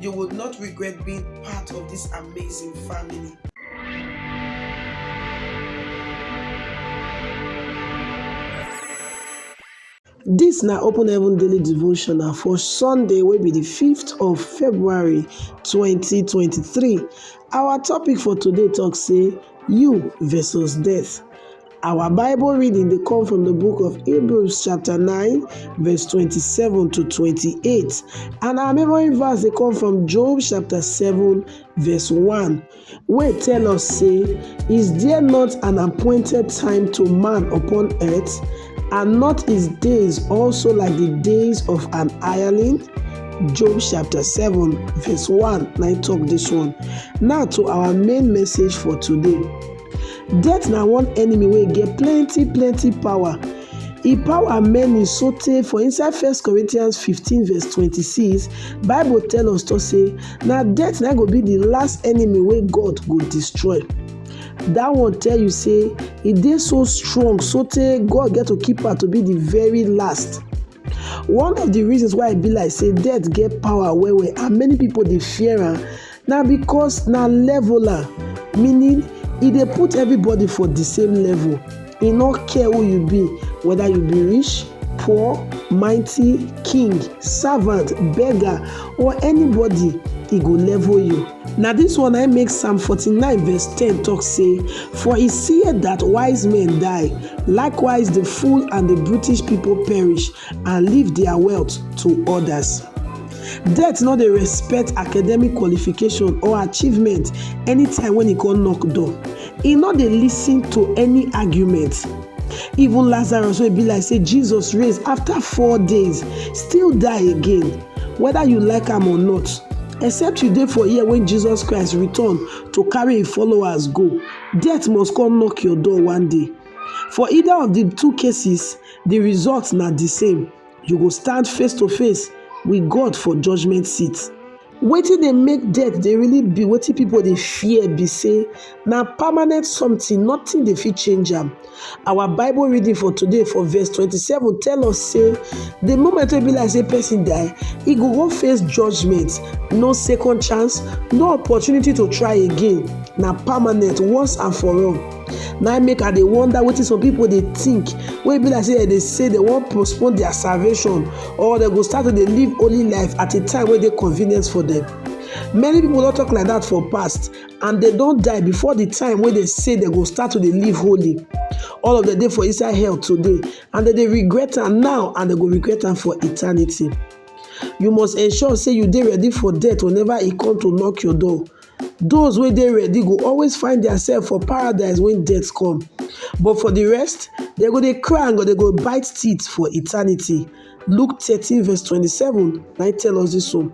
You would not regret being part of this amazing family. This na Open Heaven Daily Devotional for Sunday wey be the 5th of February 2023. Our topic for today talk say you versus death. Our Bible reading dey come from the book of Hebrews chapter 9 verse 27 to 28 and our memory verse dey come from Job chapter 7 verse 1 wey tell us say is there not an appointed time to man upon earth and not his days also like the days of an hireling? Job chapter 7 verse 1 na talk this one. Now to our main message for today. Death na one enemy wey get plenty plenty power. E power many so tey for inside First Corinthians 15 verse 26, Bible tell us to say na death na go be the last enemy wey God go destroy. That one tell you say e dey so strong so tey God get to keep her to be the very last. One of the reasons why e be like say death get power well well and many people dey fear am na because na leveler meaning e dey put everybody for the same level e no care who you be whether you be rich poor mighty king servant beggar or anybody e go level you Na dis one na im make Psalm 49 verse 10 talk say, For he seeth that wise men die, likewise the fool and the brutish people perish, and leave their wealth to others. Death no dey respect academic qualification or achievement anytime when e come knock door. E no dey listen to any argument. Even Lazarus wey be like say Jesus raise after four days still die again. whether you like am or not except you dey for here when jesus christ return to carry him followers go death must come knock your door one day for either of the two cases the result na the same you go stand face to face with god for judgment seat wetin dey make death dey really be wetin people dey fear be say na permanent something nothing dey fit change am our bible reading for today for verse 27 tell us say the moment wey be like say person die he go go face judgment no second chance no opportunity to try again na permanent once and for all na make i dey wonder wetin some people dey think wey be like say dem dey say dem wan postpone their salvation or dem go start to dey live holy life at a time wey dey convenient for them many people don talk like that for past and dem don die before the time wey dem say dem go start to dey live holy all of dem dey for inside hell today and dem dey regret am now and dem go regret am for eternity you must ensure say you dey ready for death whenever e come to knock your door those wey dey ready go always find theirself for paradise when death come but for the rest dem go dey cry and go dey go bite teeth for eternity Luke 13 verse 27 na im tell us this one.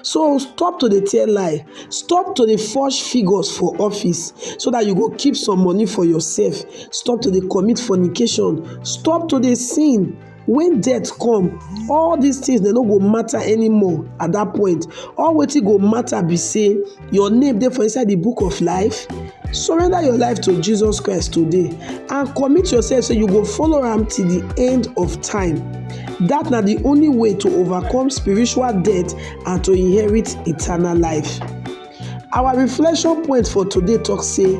So stop to dey tell lie, stop to dey forge figures for office so that you go keep some money for yourself, stop to dey commit fornication, stop to dey sin. When death come, all these things dem no go matter anymore at that point. All wetin go matter be say Your name dey for inside the book of life. Surrender your life to Jesus Christ today and commit yourself so you go follow am till the end of time. That na the only way to overcome spiritual death and to inherit eternal life. Our reflection point for today talk say,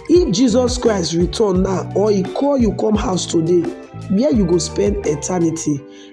if Jesus Christ return now or he call you come house today, where you go spend eternity?